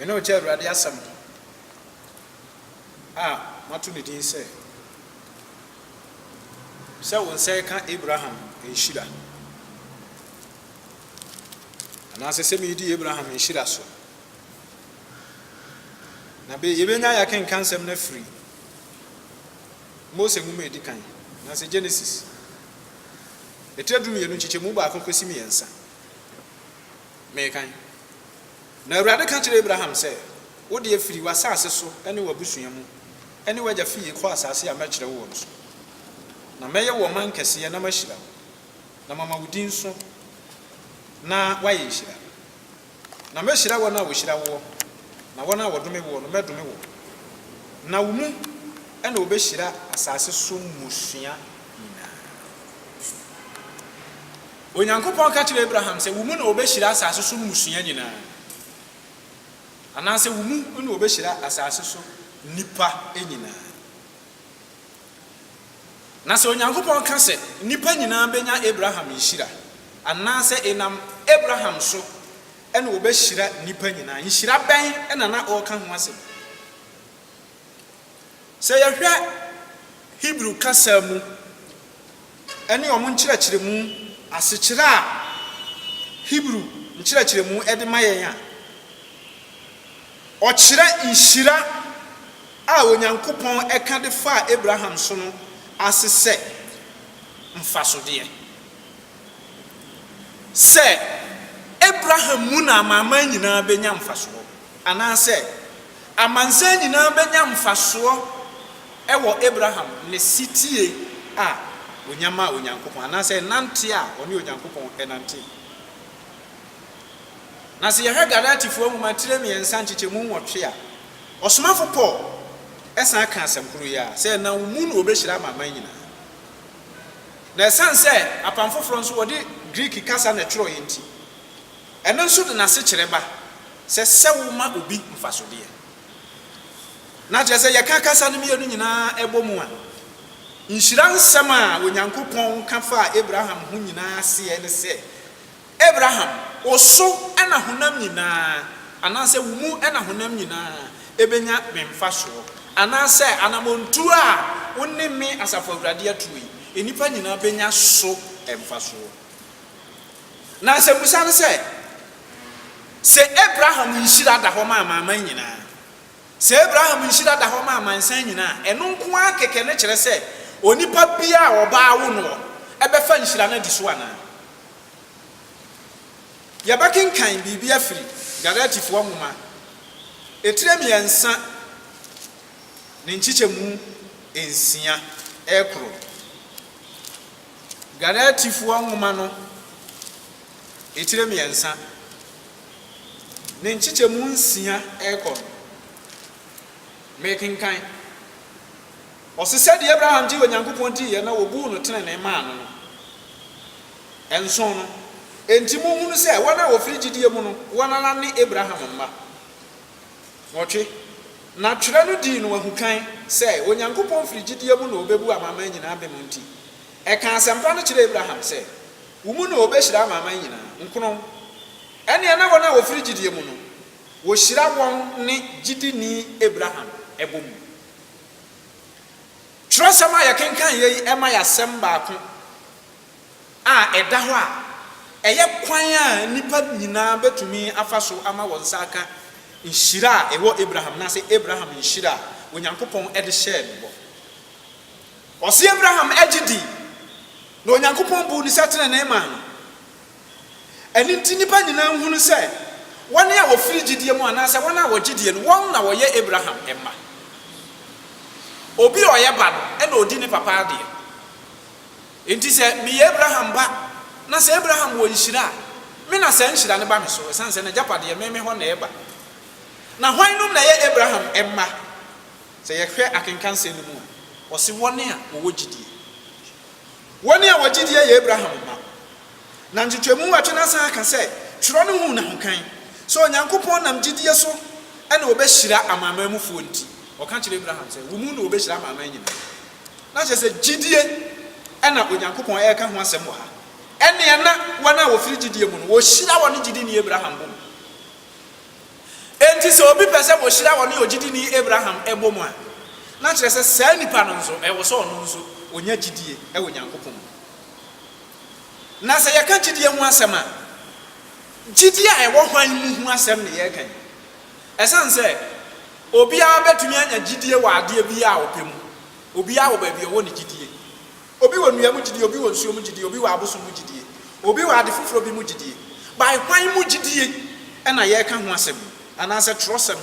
Me ne wo kyɛ Awurade asɛm no a mato ne din sɛ, sɛ wo nsa reka Abraham nhyira, anaasɛ sɛ meredi Abraham nhyira so. Na be, yɛbɛnya ayɛ akenka nsɛm no afiri Mose nwoma a ɛdi kan, anaasɛ Genesis, etire du mmienu nkyekyɛmu baako kɔsi mmiɛnsa. mekan. Na Awurade ka kyerɛɛ Abraham sɛ, Wo deɛ, firi w'asaase so ne w'abusua mu ne w'agya fie kɔ asaase a mɛkyerɛ woɔ no so. Na mɛyɛ wo ɔman kɛseɛ na mahyira wo, na mama wo din so na woayɛ nhyira. Na mɛhyira wɔn a wɔhyira woɔ, na wɔn a wɔdome woɔ no, mɛdome wɔn. Na wo mu na wɔbɛhyira asaase so mmusua nyinaa. Onyankopɔn ka kyerɛɛ Abraham sɛ, Wo mu na wɔbɛhyira asase so mmusua nyinaa, anaasɛ wo mu na wɔbɛhyira asase so nnipa nyinaa. Na sɛ Onyankopɔn ka sɛ nnipa nyinaa bɛnya Abraham nhyira, anaasɛ ɛnam Abraham so na wɔbɛhyira nnipa nyinaa, nhyira bɛn na na ɔreka ho asɛm? Sɛ yɛhwɛ Hebri kasa mu ne wɔn nkyerɛkyerɛmu asekyerɛ a Hebri nkyerɛkyerɛmu de ma yɛn a, ɔkyerɛ nhyira a Onyankopɔn ka de faa Abraham so no ase sɛ mfasodeɛ. Sɛ Abraham mu na amanaman nyinaa bɛnya mfasoɔ, anaasɛ Amansan nyinaa bɛnya mfasoɔ wɔ Abraham ne setie a ɔnya maa Onyankopɔn, anaasɛ nnanteɛ a ɔne Onyankopɔn nantee. Na sɛ yɛhwɛ Galatifoɔ nwoma tire mmiɛnsa nkyekyɛmu nwɔtwe a, ɔsomafo Paul san ka asɛm koro yi ara, sɛ ɛnam wo mu na wɔbɛhyira amanaman nyinaa. Na ɛsiane sɛ Apam Foforɔ nso wɔde Greek kasa na ɛtwerɛeɛ nti, Ɛno nso de n'asekyerɛ ba sɛ sɛ woma obi mfasodeɛ. Na kyerɛ sɛ yɛka kasa no mmienu nyinaa bɔ mu a, nhyira nsɛm a Onyankopɔn ka faa Abraham ho nyinaa aseɛ ne sɛ, Abraham, wo so na honam nyinaa, anaasɛ wo mu na honam nyinaa bɛnya me mfasoɔ, anaasɛ anammɔntuo a wo ne me, Asafo Awurade, atuo yi, nnipa nyinaa bɛnya so mfasoɔ. Na asɛmmisa ne sɛ, Sɛ Abraham nhyira da hɔ ma amanaman nyinaa, sɛ Abraham nhyira da hɔ ma amansan nyinaa a, ɛno nko ara kɛkɛ na ɛkyerɛ sɛ onipa biara a ɔbaa awo noɔ bɛfa nhyira no adi so anaa? Yɛbɛkenkan biribi afiri Galatifoɔ nwoma etire mmiɛnsa ne nkyekyɛmu nsia rekoro. Galatifoɔ nwoma no etire mmiɛnsa ne nkyekyɛmu nsia rekɔ no, mekenkan, ɔse, Sɛdeɛ Abraham gyee Onyankopɔn diiɛ na wɔbuu no tenenee maa no no, nson no, enti monhunu sɛ wɔn a wɔfiri gyidie mu no, wɔn ara ne Abraham mma. Nwɔtwe. Na Twerɛ no dii no ahukan sɛ Onyankopɔn firi gyidie mu na ɔbɛbu amanaman nyinaa bem nti, ɛkaa asɛmpa no kyerɛɛ Abraham sɛ, Wo mu na wɔbɛhyira amanaman nyinaa. Nkono. Ɛnneɛ na wɔn a wɔfiri gyidie mu no, wɔhyira wɔn ne gyidini Abraham bɔ mu. Twerɛsɛm a yɛkenkan yei ma yɛ asɛm baako. a ɛda hɔ a ɛyɛ kwan a nnipa nyinaa betumi afa so ama wɔn nsa aka nhyira a ɛwɔ Abraham anaasɛ Abraham nhyira a Onyankopɔn de hyɛɛ no bɔ. Ɔse Abraham gye dii, na Onyankopɔn buu ne sɛ trenee maa no. Ɛno nti nnipa nyinaa hunu sɛ wɔn a wɔfiri gyidie mu anaasɛ wɔn a wɔgye die no, wɔn na wɔyɛ Abraham mma. Obi a ɔyɛ ba no na ɔdi ne papa adeɛ. Enti sɛ meyɛ Abraham ba, na sɛ Abraham wɔ nhyira a, me na saa nhyira no ba me so, ɛsiane sɛ n'agyapadeɛ me me hɔ na ɛreba. Na hwannom na ɛyɛ Abraham mma? Sɛ yɛhwɛ akenkansɛm no mu a, ɔse wɔn a wɔwɔ gyidie. Wɔn a wɔgyidie yɛ Abraham mma. Na nkyekyɛmu nwɔtwe no asan aka sɛ twerɛ no huu n'ahokan sɛ Onyankopɔn nam gyidie so na ɔbɛhyira amanamanmufoɔ nti, ɔka kyerɛ Abraham sɛ, wo mu na wɔbɛhyira amanaman nyinaa. Na kyerɛ sɛ gyidie na Onyankopɔn reka ho asɛm wɔ ha. Ɛnneɛ na wɔn a wɔfiri gyidie mu no, wɔhyira wɔne gyidini Abraham bom. Enti sɛ obi pɛ sɛ wɔhyira ɔne ogyidini Abraham bom a, na kyerɛ sɛ saa nipa no nso, ɛwɔ sɛ ɔno nso ɔnya gyidie wɔ Onyankopɔn mu. Na sɛ yɛka gyidie ho asɛm a, gyidie a ɛwɔ hwan mu ho asɛm na yɛreka yi? Ɛsiane sɛ obiara betumi anya gyidie wɔ adeɛ biara a ɔpɛ mu, obiara wɔ baabi a ɔwɔ ne gyidie. Obi wɔ nnua mu gyidie, obi wɔ nsuo mu gyidie, obi wɔ abosom mu gyidie, obi wɔ ade foforɔ bi mu gyidie. By hwan mu gyidie na yɛreka ho asɛm yi, anaasɛ twerɛsɛm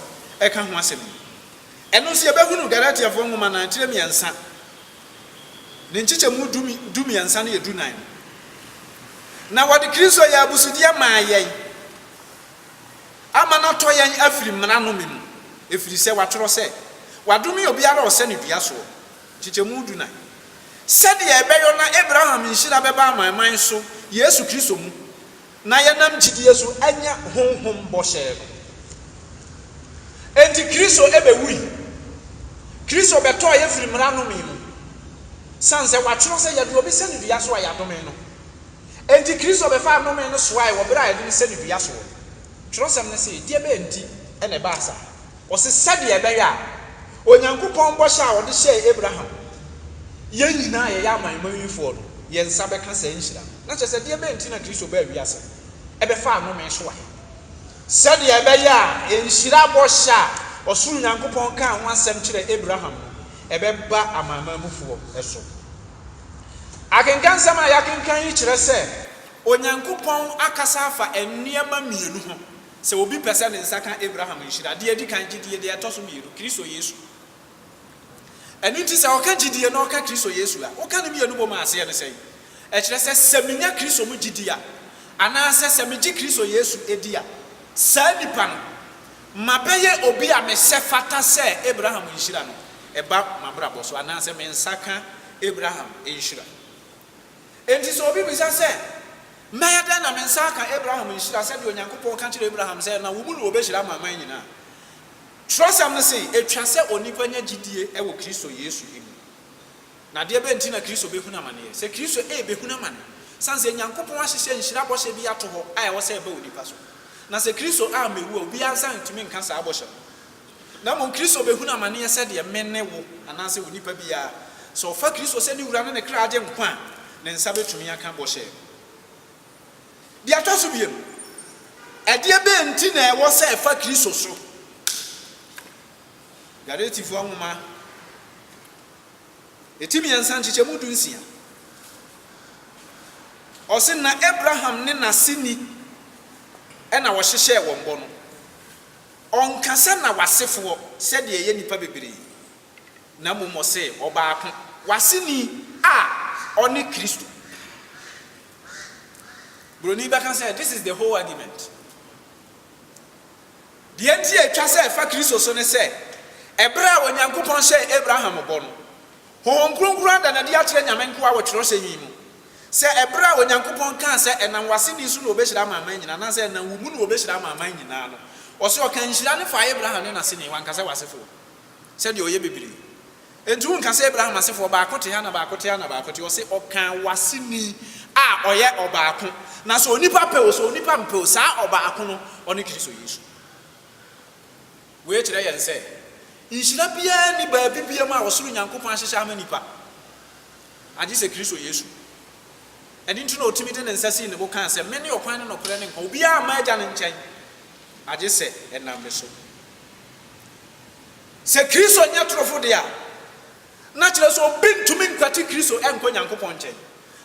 ka ho asɛm yi? Ɛno nso yɛbɛhunu Galatiafoɔ nwoma nan tire mmiɛnsa, ne nkyekyɛmu du du mmiɛnsa ne du nan mu. Na wɔde Kristo yɛɛ abusudeɛ maa yɛn. Ama no atɔ yɛn afiri mmara nnome mu, ɛfiri sɛ wɔatwerɛ sɛ, Wɔadome obiara a ɔsɛ ne dua soɔ. Nkyekyɛmu du nan. Sɛdeɛ ɛbɛyɔ na Abraham nhyira bɛba amanaman so Yesu Kristo mu, na yɛnam gyidie so anya Honhom bɔhyɛ no. Enti Kristo bɛwui. Kristo bɛtɔɔ yɛn firii mmara nnome mu, sane sɛ wɔatwerɛ sɛ, Yɛde obi sɛ ne dua so a yɛadome no. Enti Kristo bɛfaa nnome no soae wɔ bere a yɛde no sɛ no dua soɔ. Twerɛsɛm no se, Deɛ bɛn nti na ɛbaa saa? Ɔse, Sɛdeɛ ɛbɛyɛ a Onyankopɔn bɔhyɛ a ɔde hyɛɛ Abraham, yɛn nyinaa a yɛyɛ amanmanwifoɔ no, yɛn nsa bɛka saa nhyira no. Na kyerɛ sɛ, deɛ bɛn nti na Kristo baa wiase bɛfaa nnome soae? Sɛdeɛ ɛbɛyɛ a nhyira bɔhyɛ a ɔsoro Nyankopɔn kaa ho asɛm kyerɛɛ Abraham no, ɛbɛba amanamanmufoɔ so. Akenkan nsɛm a yɛakenkan yi kyerɛ sɛ Onyankopɔn akasa afa nneɛma mmienu ho sɛ obi pɛ sɛ ne nsa ka Abraham nhyira, deɛ ɛdi kan, gyedie, deɛ ɛtɔ so mmienu, Kristo Yesu. Ɛno nti sɛ ɔka gyedie na ɔka Kristo Yesu a, woka ne mmienu bom a aseɛ ne sɛn? Ɛkyerɛ sɛ sɛ menya Kristo mu gyedie a, anaasɛ sɛ megye Kristo Yesu di a, saa nipa no, Mabɛyɛ obi a mesɛ fata sɛ Abraham nhyira no ba m'abrabɔ so, anaasɛ me nsa ka Abraham nhyira. Enti sɛ obi bisa sɛ, 'Mɛyɛ dɛn na me nsa aka Abraham nhyira sɛdeɛ Onyankopɔn ka kyerɛɛ Abraham sɛ na wo mu na wɔbɛhyira amanaman nyina a? Twerɛsɛm no se, Ɛtwa sɛ onipa nya gyidie wɔ Kristo Yesu mu. Na deɛ bɛn nti na Kristo bɛhunu amaneɛ? Sɛ Kristo rebɛhunu amane. Sane sɛ Nyankopɔn ahyehyɛ nhyira bɔhyɛ bi ato hɔ a ɛwɔ sɛ ɛba onipa so. Na sɛ Kristo ammɛwu a, obiara nsa rentumi nka saa bɔhyɛ no. Na mmom Kristo bɛhunu amaneɛ sɛdeɛ me ne wo anaasɛ onipa biara, sɛ ɔfa Kristo sɛ ne Wura ne ne kra Agyenkwa a, ne nsa bɛtumi aka bɔhyɛ no. Deɛ ɛtɔ so mmienu, ɛdeɛ bɛn nti na ɛwɔ sɛ ɛfa Kristo so? Galatifoɔ nwoma Eti mmiɛnsa nkyekyɛmu du nsia. Ɔse na Abraham ne n'aseni na wɔhyehyɛɛ wɔn bɔ no. Ɔnka sɛ na w'asefoɔ sɛdeɛ ɛyɛ nnipa bebree, na mmom ɔse ɔbaako, w'aseni a ɔne Kristo. Buroni bɛka sɛ this is the whole argument. Deɛ enti a ɛtwa sɛ ɛfa Kristo so ne sɛ, ɛberɛ a Onyankopɔn hyɛɛ Abraham bɔ no, Honhom Kronkron ada no adi akyerɛ Nyame nkoa wɔ twerɛsɛm yi mu, sɛ ɛberɛ a Onyankopɔn kaa sɛ ɛnam w'aseni so na wɔbɛhyira amanaman nyinaa, anaasɛ ɛnam wo mu na wɔbɛhyira amanaman nyinaa no, ɔse ɔkaa nhyira no faa Abraham ne n'aseni, wanka sɛ w'asefoɔ, sɛdeɛ ɔyɛ bebree. Enti wonka sɛ Abraham asefoɔ baako te ha na baako te ha na baako te ha, ɔse ɔkaa w'aseni a ɔyɛ ɔbaako, na sɛ onipa pɛ o sɛ onipa mpɛ o, saa ɔbaako no ɔne Kristo Yesu. Wei kyerɛ yɛn sɛ nhyira biara nni baabi biam a ɔsoro Nyankopɔn ahyehyɛ ama nipa agye sɛ Kristo Yesu. Ɛno nti na ɔtumi de ne nsa sii ne bo kaa sɛ, Mene ɔkwan ne nɔkorɛ ne nkwa, obiara mma agya no nkyɛn agye sɛ ɛnam me so. Sɛ Kristo nyɛ torofo de a, na kyerɛ sɛ obi ntumi nkwati Kristo nkɔ Nyankopɔn nkyɛn.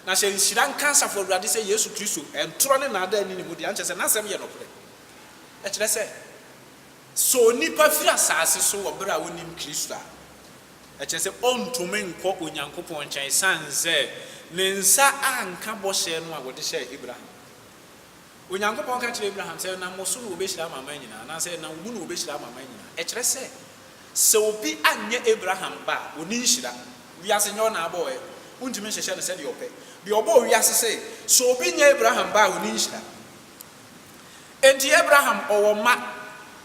Na sɛ nhyira nka Asafo Awurade sɛ Yesu Kristo ntorɔ ne nnaadaa nni ne mu de a, ɛnkyerɛ sɛ n'asɛm yɛ nokorɛ. Ɛkyerɛ sɛ, sɛ onipa firi asase so wɔ berɛ a ɔnnim Kristo a, ɛkyerɛ sɛ ɔntumi nkɔ Onyankopɔn nkyɛn ɛsiane sɛ ne nsa anka bɔhyɛ no a wɔde hyɛɛ Abraham. Onyankopɔn ka kyerɛɛ Abraham sɛ ɛnam wo so na wɔbɛhyira amanaman nyinaa, anaasɛ ɛnam wo mu na wɔbɛhyira amanaman nyinaa. Ɛkyerɛ sɛ, sɛ obi anyɛ Abraham ba a, ɔnni nhyira. Wiase nyɛ ɔna abɔ ɛ. Wontumi nhyehyɛ no sɛdeɛ ɔpɛ. Deɛ ɔbɔɔ wiase se, sɛ obi nyɛ Abraham ba a, ɔnni nhyira. Enti Abraham, ɔwɔ mma.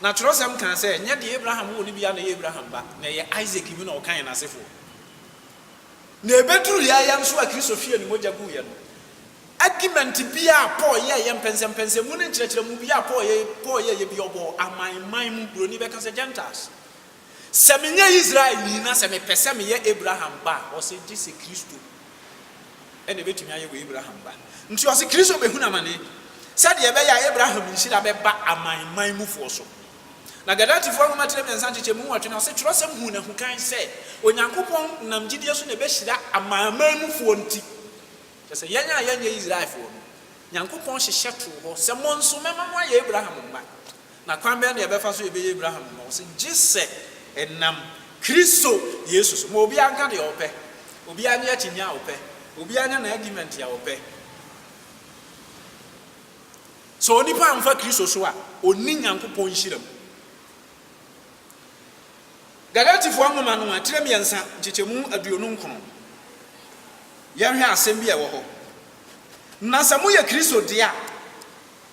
Na twerɛsɛm kaa sɛ, nyɛ deɛ Abraham woo no biara na ɛyɛ Abraham ba, na ɛyɛ Isak mu na ɔka yɛn asefoɔ. Na ɛbɛduruu yɛn ara yɛn nso a Kristo hwiee ne mogya guiɛ no, Argument biara a Paul yɛeɛ, mpɛnsɛmpɛnsɛmu ne nkyerɛkyerɛmu biara a Paul yɛeɛ, Paul yɛeɛ bi a ɔbɔɔ aman man mu, Buroni bɛka sɛ Gentiles. Sɛ menyɛ Israelni na sɛ mepɛ sɛ meyɛ Abraham ba a, ɔse gye sɛ Kristo na ɛbɛtumi ayɛ wɔ Abraham ba. Nti ɔse Kristo bɛhunu amane sɛdeɛ ɛbɛyɛ a Abraham nhyira bɛba aman man mufoɔ so. Na Galatifoɔ nwoma tire mmiɛnsa nkyekyɛmu nwɔtwe no ɔse twerɛsɛm huu no ahukan sɛ Onyankopɔn nam gyidie so na ɛbɛhyira aman man mufoɔ nti. Kyerɛ sɛ, yɛn a yɛnyɛ Israelfoɔ no, Nyankopɔn hyehyɛ too hɔ sɛ, Mo nso, mɛma mo ayɛ Abraham mma. Na kwan bɛn na yɛbɛfa so yɛbɛyɛ Abraham mma? Ɔse, gye sɛ ɛnam Kristo Yesu so. Ma obiara nka deɛ ɔpɛ. Obiara nyɛ akyinnye a ɔpɛ. Obiara nyɛ n'agument a ɔpɛ. Sɛ onipa amfa Kristo so a, ɔnni Nyankopɔn nhyira mu. Galatifoɔ nwoma no tire mmiɛnsa, nkyekyɛmu aduonu nkron. Yɛnhwɛ asɛm bi a ɛwɔ hɔ, Na sɛ moyɛ Kristo deɛ a,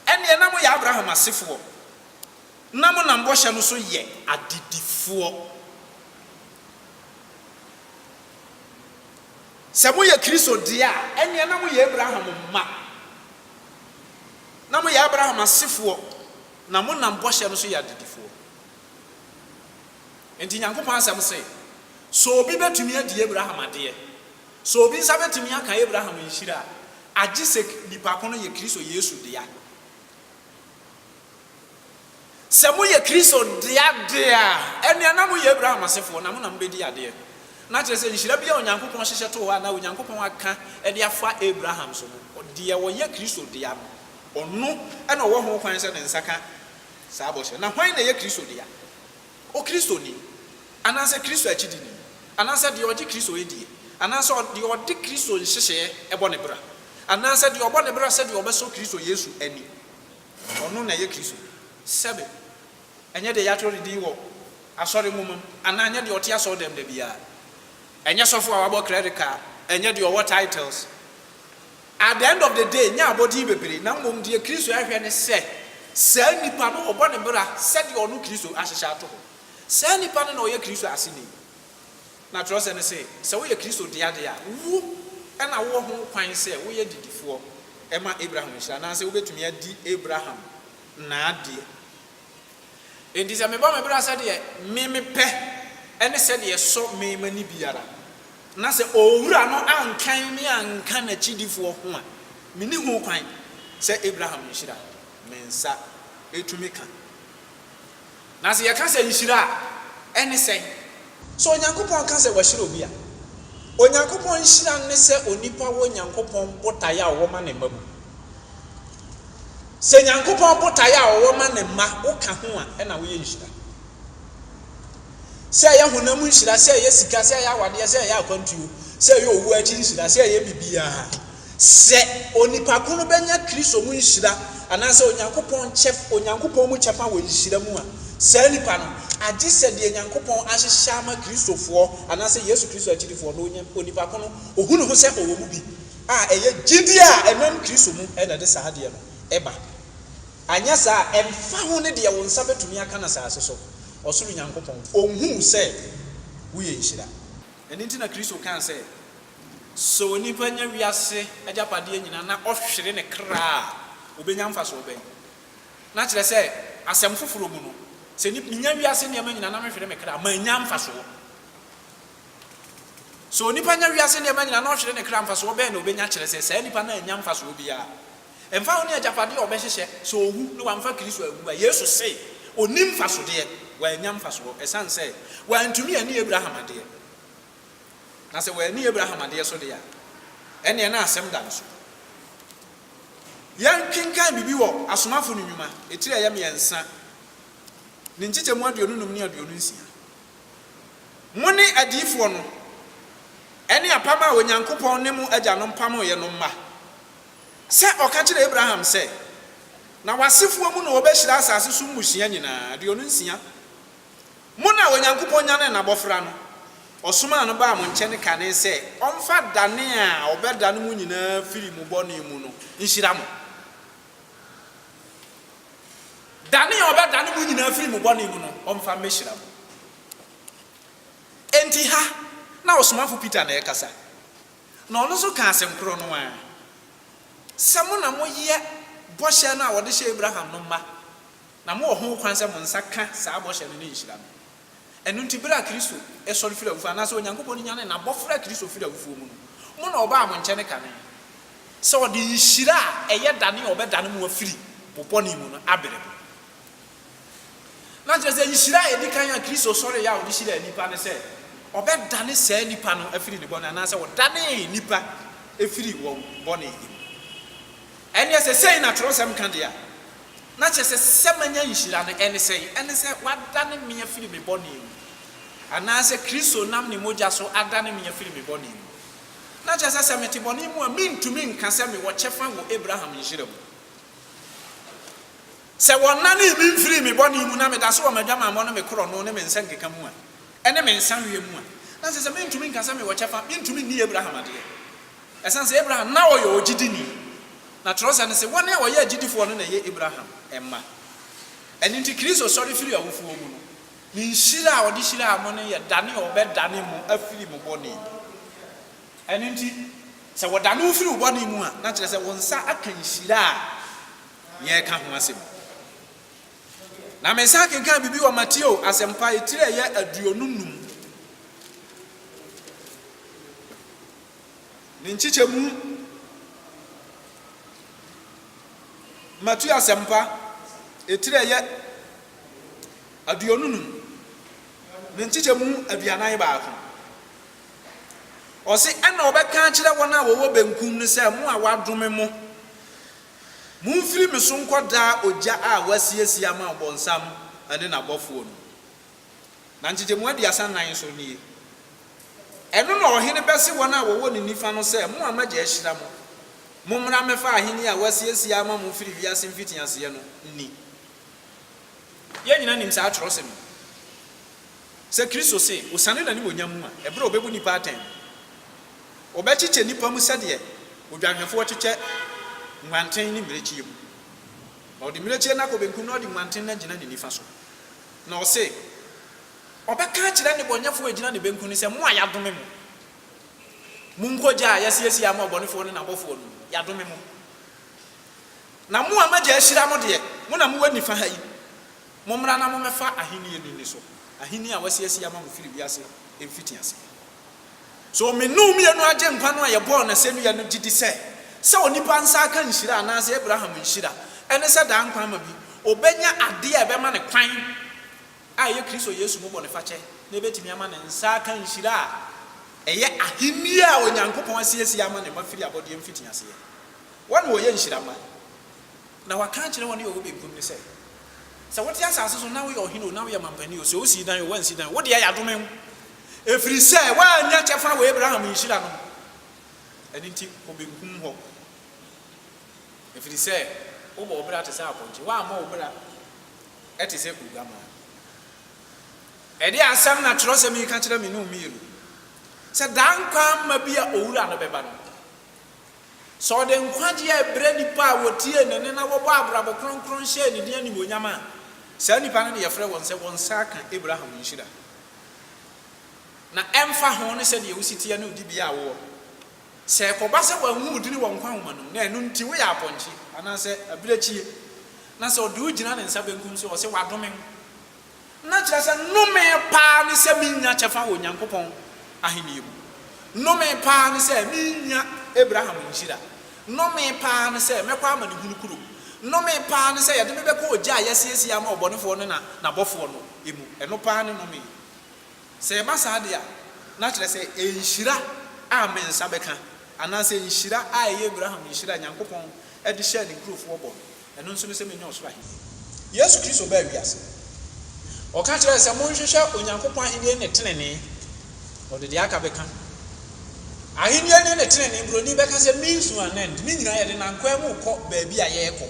ɛnneɛ na moyɛ Abraham asefoɔ, na monam bɔhyɛ no so yɛ adedifoɔ. Sɛ moyɛ Kristo deɛ a, ɛnneɛ na moyɛ Abraham mma, na moyɛ Abraham asefoɔ, na monam bɔhyɛ no so yɛ adedifoɔ. Enti Nyankopɔn asɛm se, So obi betumi adi Abraham adeɛ? So obi nsa betumi aka Abraham nhyira a? Agyesek nipa ko no yɛ Kristo Yesu dea. Sɛ moyɛ Kristo dea de a, ɛnneɛ na moyɛ Abraham asefoɔ, na mo na mobedi adeɛ. Na kyerɛ sɛ, nhyira biara a Onyankopɔn hyehyɛ too hɔ a na Onyankopɔn aka de afa Abraham so no, deɛ ɔyɛ Kristo dea no, ɔno na ɔwɔ ho kwan sɛ ne nsa ka. saa bɔhyɛ no. Na hwan na ɛyɛ Kristo dea? Okristoni, anaasɛ Kristo akyidini, anaasɛ deɛ ɔgye Kristo die, anaasɛ deɛ ɔde Kristo nhyehyɛeɛ bɔ ne bra, anaasɛ deɛ ɔbɔ ne bra sɛdeɛ ɔbɛsɔ Kristo Yesu ani, ɔno na ɛyɛ Kristo dea. Sɛbe ɛnyɛ deɛ yɛatwerɛ ne din wɔ asɔre nwoma mu, anaa ɛnyɛ deɛ ɔte asɔredɛm da biara, ɛnyɛ sɔfo a wabɔ credit card, ɛnyɛ deɛ ɔwɔ titles, At the end of the day, nyɛ abɔden bebree, na mmom deɛ Kristo hwehwɛ ne sɛ saa nipa no ɔbɔ ne bra sɛdeɛ ɔno Kristo ahyehyɛ ato hɔ. Saa nipa no na ɔyɛ Kristo aseni. Na twerɛsɛm no se, sɛ woyɛ Kristo dea deɛ a, wo na wowɔ ho kwan sɛ woyɛ didifoɔ ma Abraham nhyira, anaasɛ wobɛtumi adi Abraham n'adeɛ Enti sɛ mebɔ me bra sɛdeɛ me mepɛ ne sɛdeɛ ɛsɔ me m'ani biara, na sɛ Owura no ankan me anka N'akyidifoɔ ho a, menni ho kwan sɛ Abraham nhyira me nsa tumi ka. Na sɛ yɛka sɛ nhyira a, ɛne sɛn? So Onyankopɔn ka sɛ wahyira obi a? Onyankopɔn nhyira no ne sɛ onipa wɔ Nyankopɔn botaeɛ a ɔwɔ ma ne mma mu. Sɛ Nyankopɔn botaeɛ a ɔwɔ ma ne mma woka ho a, ɛna woyɛ nhyira. Sɛ ɛyɛ honam nhyira, sɛ ɛyɛ sika, sɛ ɛyɛ awadeɛ, sɛ ɛyɛ akwantuo, sɛ ɛyɛ owuo akyi nhyira, sɛ ɛyɛ biribiara. Sɛ onipa ko no bɛnya Kristo mu nhyira anaasɛ Onyankopɔn kyɛf Onyankopɔn mu kyɛfa wɔ nhyira mu a, saa nipa no, agye sɛ deɛ Nyankopɔn ahyehyɛ ama Kristofoɔ anaasɛ Yesu Kristo akyidifoɔ no, onya, onipa ko no, ɔhu ne ho sɛ ɔwɔ mu bi, a ɛyɛ gyidie a ɛnam Kristo mu na ɛde saa adeɛ no ba. Anyɛ saa a, ɛmfa ho ne deɛ wo nsa bɛtumi aka no asase so, ɔsoro Nyankopɔn, ɔnhu wo sɛ woyɛ nhyira. Ɛno nti na Kristo kaa sɛ, Sɛ onipa nya wiase agyapadeɛ nyinaa na ɔhwere ne kra a, ɔbɛnya mfasoɔ bɛn? Na kyerɛ sɛ, asɛm foforɔ mu no, sɛ nip, menya wiase nneɛma nyinaa na mehwere me kra a, mannya mfasoɔ. Sɛ onipa nya wiase nneɛma nyinaa na ɔhwere ne kra a, mfasoɔ bɛn na ɔbɛnya? Kyerɛ sɛ, saa nipa no annya mfasoɔ biara. Ɛmfa ho ne agyapadeɛ a ɔbɛhyehyɛ, sɛ ɔwu na wamfa Kristo anwu a, Yesu se ɔnni mfasodeɛ, wannya mfasoɔ, ɛsiane sɛ wantumi anni Abraham adeɛ. Na sɛ wanni Abraham adeɛ so deɛ a, ɛnneɛ na asɛm da ne so. Yɛnkenkan biribi wɔ Asomafo no Nnwuma, etire a ɛyɛ mmiɛnsa, ne nkyekyɛmu aduonu nnum ne aduonu nsia. Mo ne adiyifoɔ no, ɛne apam a Onyankopɔn ne mo agyanom pamoeɛ no mma. Sɛ ɔka kyerɛɛ Abraham sɛ, Na w'asefoɔ mu na wɔbɛhyira asase so mmusua nyinaa, aduonu nsia, Mo na Onyankopɔn nyanee n'abɔfra no, ɔsomaa no baa mo nkyɛne kane sɛ ɔmfa dane a ɔbɛdane mo nyinaa firi mo bɔne mu no nhyira mo. Dane a ɔbɛdane mo nyinaa firi mo bɔne mu no ɔmfa mmɛhyira mo. Enti ha na ɔsomafo Peter na ɛrekasa, na ɔno nso kaa asɛm korɔ no ara, sɛ mo na moyɛ bɔhyɛ no a wɔde hyɛɛ Abraham no mma. Na mowɔ ho kwan sɛ mo nsa ka saa bɔhyɛ no ne nhyira no. Ɛno nti, bere a Kristo sɔre firi awufoɔ, anaasɛ Onyankopɔn nyanee n'abɔfra a Kristo firi awufoɔ mu no, mo na ɔbaa mo nkyɛne kane, sɛ ɔde nhyira a ɛyɛ dane a ɔbɛdane mo afiri mo bɔne mu no abrɛ mo. Na kyerɛ sɛ, nhyira a ɛdi kan a Kristo sɔreeɛ a ɔde hyiraa nnipa ne sɛ ɔbɛdane saa nipa no afiri ne bɔne, anaasɛ ɔdanee nnipa firii wɔn bɔne mu. Ɛnneɛ sɛ sei na twerɛsɛm ka deɛ a, Na kyerɛ sɛ, sɛ manya nhyira no, ɛne sɛn? Ɛne sɛ wɔadane me afiri me bɔne mu, anaasɛ Kristo nam ne mogya so adane me afiri me bɔne mu. Na kyerɛ sɛ, sɛ mete bɔne mu a, mentumi nka sɛ mewɔ kyɛfa wɔ Abraham nhyira mu. Sɛ wɔnanee me mfirii me bɔne mu na meda so wɔ m'adwamammɔ ne me korɔno ne me nsɛnkeka mu a, ɛne me nsa hwɛ mu a, na kyerɛ sɛ mentumi nka sɛ mewɔ kyɛfa, mentumi nni Abraham adeɛ. Ɛsiane sɛ Abraham na ɔyɛ ogyidini, na Twerɛsɛm no se, Wɔn a wɔyɛ agyidifoɔ no na ɛyɛ Abraham mma. Ɛno nti, Kristo sɔre firii awufoɔ mu no, ne nhyira a ɔde hyiraa mo no yɛ dane a ɔbɛdane mo afiri mo bɔne mu. Ɛno nti, sɛ wɔdane wo firi wo bɔne mu a, na kyerɛ sɛ wo nsa aka nhyira a yɛreka ho asɛm yi. Na mesan kenkan biribi wɔ Mateo Asɛmpa etire a ɛyɛ aduonu num. Ne nkyekyɛmu Matthew Asɛmpa etire a ɛyɛ aduonu num ne nkyekyɛmu aduanan baako. Ɔse, Ɛna ɔbɛka akyerɛ wɔn a wɔwɔ benkum no sɛ, Mo a wɔadome mo, momfiri me so nkɔ daa ogya a wɔasiesie ama ɔbonsam ne n'abɔfoɔ no. na nkyegyemu aduasa nnan nso nie. Ɛno na ɔhene bɛse wɔn a wɔwɔ ne nifa no sɛ, Mo a m'agya ahyira mo, mommra mmɛfa ahenni a wɔasiesie ama mo firi wiase mfitiaseɛ no nni. Yɛn nyinaa nim saa twerɛsɛm yi, sɛ Kristo se osiane n'animuonyam mu a, ɛberɛ a ɔbɛbu nnipa atɛn no, ɔbɛkyekyɛ nnipa mu sɛdeɛ odwanhwɛfoɔ kyekyɛ nguanten ne mmirekyie mu, na ɔde mmirekyie no akɔ benkum na ɔde nguanten no agyina ne nifa so. Na ɔse, Ɔbɛka akyerɛ nnebɔneyɛfoɔ a ɛgyina ne benkum no sɛ, Mo a yɛadome mo, monkɔ gya a yɛasiesie ama ɔbɔnefoɔ ne n'abɔfoɔ no mu, yɛadome mo. Na mo a m'Agya ahyira mo deɛ, mo na mowɔ nifa ha yi, mommra na mommɛfa ahennie no nniso, ahennie a wɔasiesie ama mo firi wiase mfitiaseɛ. So Mmenomyɛ no Agyenkwa no a yɛbɔɔ n'asɛnnua no gye di sɛ, sɛ onipa nsa aka nhyira anaasɛ Abraham nhyira, ɛne sɛ daa nkwa ma bi, obenya ade a ɛbɛma no kwan, a ɛyɛ Kristo Yesu mu bɔnefakyɛ, na ebetumi ama ne nsa aka nhyira a ɛyɛ Ahenni a Onyankopɔn asiesie ama ne mma firi abɔdeɛ mfitiaseɛ? Wɔn na wɔyɛ nhyira mma. Na wɔaka akyerɛ wɔn a wɔwɔ benkum no sɛ, Sɛ wote asase so na woyɛ ɔhene o, na woyɛ mampanin o, sɛ wosii dan o, woansi dan o, wo deɛ yɛadome wo. Ɛfiri sɛ woannya kyɛfa wɔ Abraham nhyira no mu, ɛno nti kɔ benkum hɔ, ɛfiri sɛ wobɔ wo bra te sɛ apɔnkye, woammɔ wo bra te sɛ oguammaa. Ɛdeɛn asɛm na twerɛsɛm yi ka kyerɛ me ne wo mmienu? Sɛ daa nkwa mma bi a Owura no bɛba no, sɛ ɔde nkwagyeɛ rebrɛ nnipa a wɔtiee ne nne na wɔbɔɔ abrabɔ kronkron hyɛɛ ne din animuonyam a, saa nnipa no na yɛfrɛ wɔn sɛ wɔn nsa aka Abraham nhyira. Na ɛmfa ho ne sɛdeɛ wo si teɛ ne wo dibea a wowɔ no, sɛ ɛkɔba sɛ wɔanhu wo din wɔ nkwa nwoma no mu, na ɛno nti woyɛ apɔnkye anaasɛ abirekyie, na sɛ ɔde wo gyina ne nsa benkum so a, ɔse, Wɔadome wo, na kyerɛ sɛ, Nnome pa ara ne sɛ mennya kyɛfa wɔ Onyankopɔn ahennie mu. Nnome pa ara ne sɛ merennya Abraham nhyira. Nnome pa ara ne sɛ mɛkɔ amanehunu kuro. Nnome pa ara ne sɛ yɛde me bɛkɔ ogya a yɛasiesie ama ɔbɔnefoɔ no na n'abɔfoɔ no. mu. Ɛno paa ne nnome. Sɛ ɛba saa de a, na kyerɛ sɛ nhyira a me nsa bɛka, anaasɛ nhyira a ɛyɛ Abraham nhyira a Nyankopɔn de hyɛɛ ne nkurofoɔ bɔ no, ɛno nso ne sɛ mɛnya Ɔsoro Ahennie. Yesu Kristo baa wiase. Ɔka kyerɛɛ sɛ, Monhwehwɛ Onyankopɔn Ahennie ne tenenee, na ɔde deɛ aka bɛka. Ahennie ne ne tenenee, Buroni bɛka sɛ, means to an end. Ne nyinaa yɛde nam kwan mu rekɔ baabi a yɛrekɔ.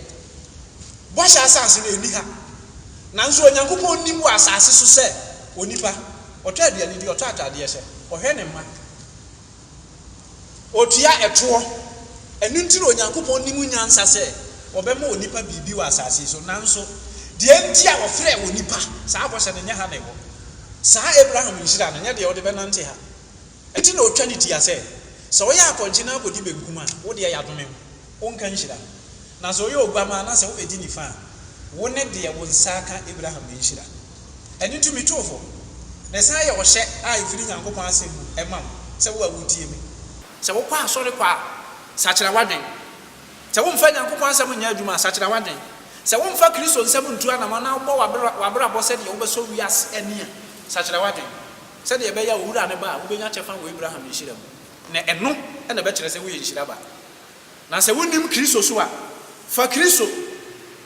Bɔhyɛ Asase no nni ha. Nanso Onyankopɔn nnim wɔ asase so sɛ onipa. Ɔtɔ aduane di, ɔtɔ atadeɛ hyɛ, ɔhwɛ ne mma, ɔtua ɛtoɔ. Ɛno nti na Onyankopɔn nnim nyansa sɛ ɔbɛma onipa biribi wɔ asase so. Nanso deɛ enti a ɔfrɛɛ onipa saa bɔhyɛ no nyɛ ha na ɛwɔ. Saa Abraham nhyira no nyɛ deɛ wode bɛnante ha. Enti na otwa ne ti a sɛ, sɛ ɔyɛ apɔnkye na akodi benkum a, wo deɛ yɛadome wo, wonka nhyira. Na sɛ ɔyɛ oguammaa na sɛ wobedi nifa a, wo ne deɛ wo nsa aka Abraham no nhyira. Ɛno nti mituu fo, na ɛsan yɛ ɔhyɛ a efiri Nyankopɔn asɛm mu ma wo, sɛ wo a wutie me, sɛ wokɔ asɔre kɔ a, sakyera w'adwene, sɛ womfa Nyankopɔn asɛm nyɛ adwuma a, sakyera w'adwene, sɛ womfa Kristo nsɛm ntu anamɔn na wobɔ w'abrabɔ sɛdeɛ wobɛsɔ wiase ani a, sakyera w'adwene. Sɛdeɛ ɛbɛyɛ a owura no ba a, wobɛnya kyɛfa wɔ Abraham nhyira mu, na ɛno na ɛbɛkyerɛ sɛ woyɛ nhyira ba. Na sɛ wonim Kristo so a, fa Kristo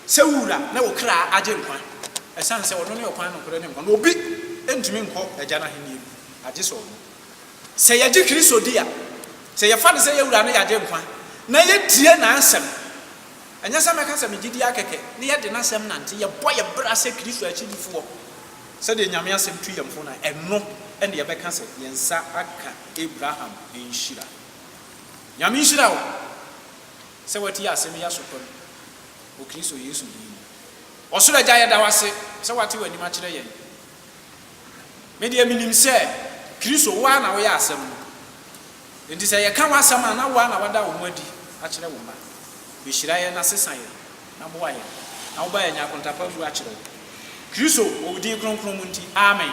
sɛ wo wura ne wo kra agyenkwa, ɛsiane sɛ ɔno ne ɔkwan, nokorɛ, ne nkwa, na obi ntumi nkɔ Agya no ahennie mu agye sɛ ɔno. Sɛ yɛgye Kristo di a, sɛ yɛfa no sɛ yɛn wura ne yɛn agyenkwa, na yɛtie n'asɛm, ɛnyɛ sɛ mɛka sɛ megye di ara kɛkɛ, na yɛde n'asɛm nante, yɛbɔ yɛn bra sɛ Kristo akyidifoɔ, Sɛdeɛ Nyame asɛm tu yɛn fo no, ɛno na yɛbɛka sɛ yɛn nsa aka Abraham nhyira. Nyame nhyira wo sɛ woatie asɛm yi asotɔ no wɔ Kristo Yesu din mu. Ɔsoro Agya, yɛda wo ase sɛ woate w'anim akyerɛ yɛn. Me deɛ menim sɛ Kristo, wo ara na woyɛ asɛm no. Enti sɛ yɛka w'asɛm a na woa na woada wo ho adi akyerɛ wo mma. Behyira yɛn na sesa yɛn na boa yɛn na woma yɛanya akontapa mmu akyerɛ wo. Kristo, wɔ wo din kronkron mu nti, amen.